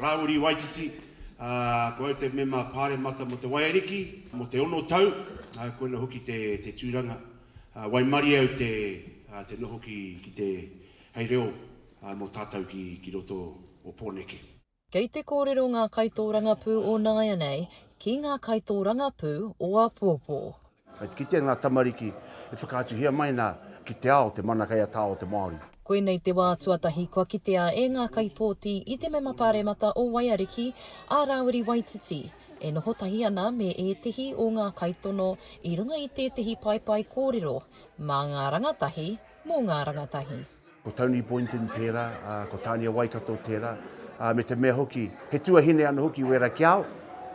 Rāwiri Waititi, Ko au te mema pāremata mō Te Waiariki mō te ono tau, koina hoki te tūranga. Waimarie au te noho ki te hei reo mō tātou ki roto o Pōneke. Kei te kōrero ngā kaitōrangapū o nāianei ki ngā kaitōrangapū o āpōpō. Kei te kitea ngā tamariki e whakaatuhia mai ana ki te ao, te mana kei a tā o te Māori. Koinei te wā tuatahi kua kitea e ngā kaipōti i te Mema Pāremata o Waiariki, a Rāwiri Waititi, e noho tahi ana me ētehi o ngā kaitono i runga i tētehi paepae kōrero mā ngā rangatahi, mō ngā rangatahi. Ko Tony Boynton tērā, ā, ko Tānia Waikato tērā, ā, me te mea hoki, he tuahine anō hoki wērā ki a au.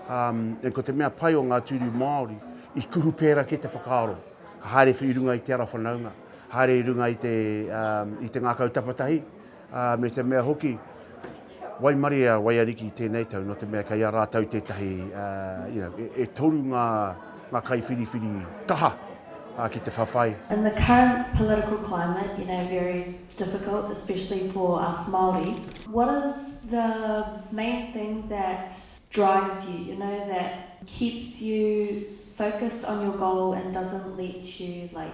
Ā, ē, ko te mea pai o ngā tūru Māori, i kuhu pērā ki te whakaaro, ka haere i runga i te ara whanaunga, haere i runga i te, ā, i te ngākau tapatahi, ā, me te mea hoki, Waimarie a Waiariki tēnei tau, nō te mea kei a rātou tētahi, you know, e, e toru ngā, ngā kaiwhiriwhiri kaha ki te whawhai. In the current political climate, you know, very difficult, especially for us Māori, what is the main thing that drives you, you know, that keeps you focused on your goal and doesn't let you, like,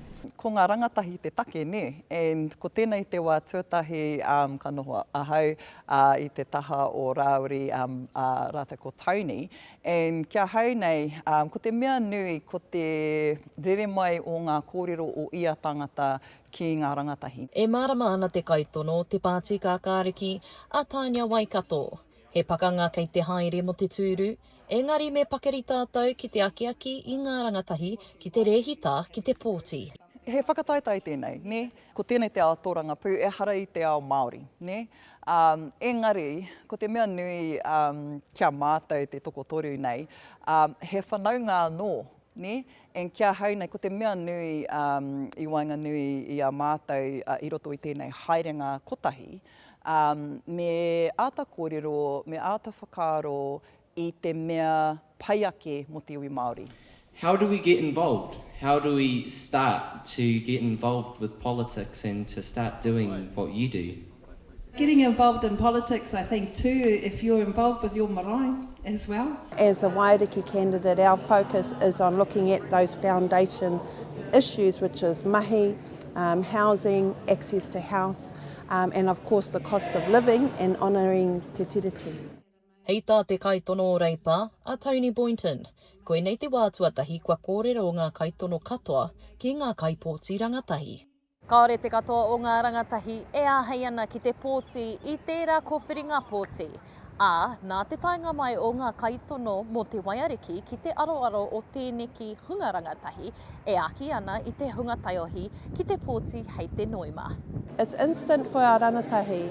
Ko ngā rangatahi te take, nē? And ko tēnei te wā tuatahi ka noho ahau i te taha o Rāwiri rātou ko Tony. And ki ahau nei, ko te mea nui ko te rere mai o ngā kōrero o ia tangata ki ngā rangatahi. E mārama ana te kaitono, te Pāti Kākāriki, a Tānia Waikato, He pakanga kei te haere mo te tūru, engari me pakari tātou ki te akiaki i ngā rangatahi ki te rēhita ki te pōti. He whakataetae tēnei, nē? Ko tēnei te ao tōrangapū, ehara i te ao Māori, nē? Ā, engari, ko te mea nui, ā, ki a mātou te tokotoru nei, ā, he whanaunga anō Nē? And ki ahau nei, ko te mea nui um, i waenganui i a mātou uh, i roto i tēnei haerenga kotahi, um, me āta kōrero, me āta whakaaro i te mea pai ake mō te iwi Māori. How do we get involved? How do we start to get involved with politics and to start doing what you do? Getting involved in politics I think too if you're involved with your marae as well. As a Waiariki candidate our focus is on looking at those foundation issues which is mahi, um, housing, access to health um, and of course the cost of living and honouring Te Tiriti. Hei tā te kaitono o Reipa, a Tony Boynton, Koinei te wā tuatahi kua kōrero ngā kaitono katoa ki ngā kaipōti rangatahi. Kāore te katoa o ngā rangatahi e āhei ana ki te pōti i tērā kōwhiringa pōti, ā, nā te taenga mai o ngā kaitono mō te waiariki ki te aroaro o tēneki hunga rangatahi e aki ana i te hunga taiohi ki te pōti hei te noema. It's instant for our rangatahi.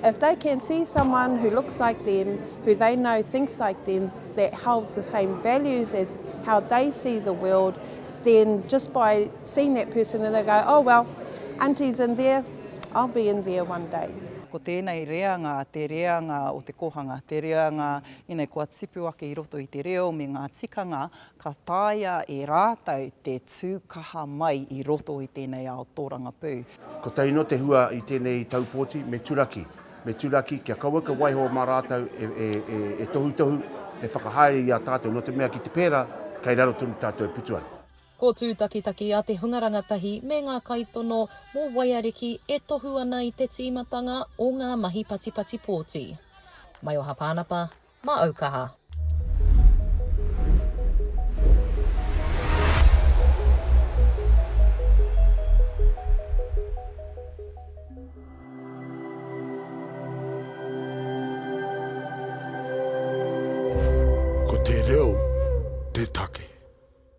If they can see someone who looks like them, who they know thinks like them, that holds the same values as how they see the world, then just by, seen that person and they go, oh well, Auntie's in there, I'll be in there one day. Ko tēnei reanga, te reanga o te kōhanga, te reanga ina kua tipu ake i roto i te reo me ngā tikanga, ka taea e rātou te tū kaha mai i roto i tēnei ao tōrangapū. Kotahi noa te hua i tēnei taupōti, me turaki, me turaki kia kaua kia waiho mā rātou e tohutohu, e whakahaere i a tātou, nō te mea ki te pērā, kei raro tonu tātou e putu ana. Ko tūtakitaki a te hunga rangatahi me ngā kaitono mō Waiariki e tohu ana i te tīmatanga o ngā mahi patipati pōti. Maioha Pānapa, mā Aukaha. Ko te reo te take.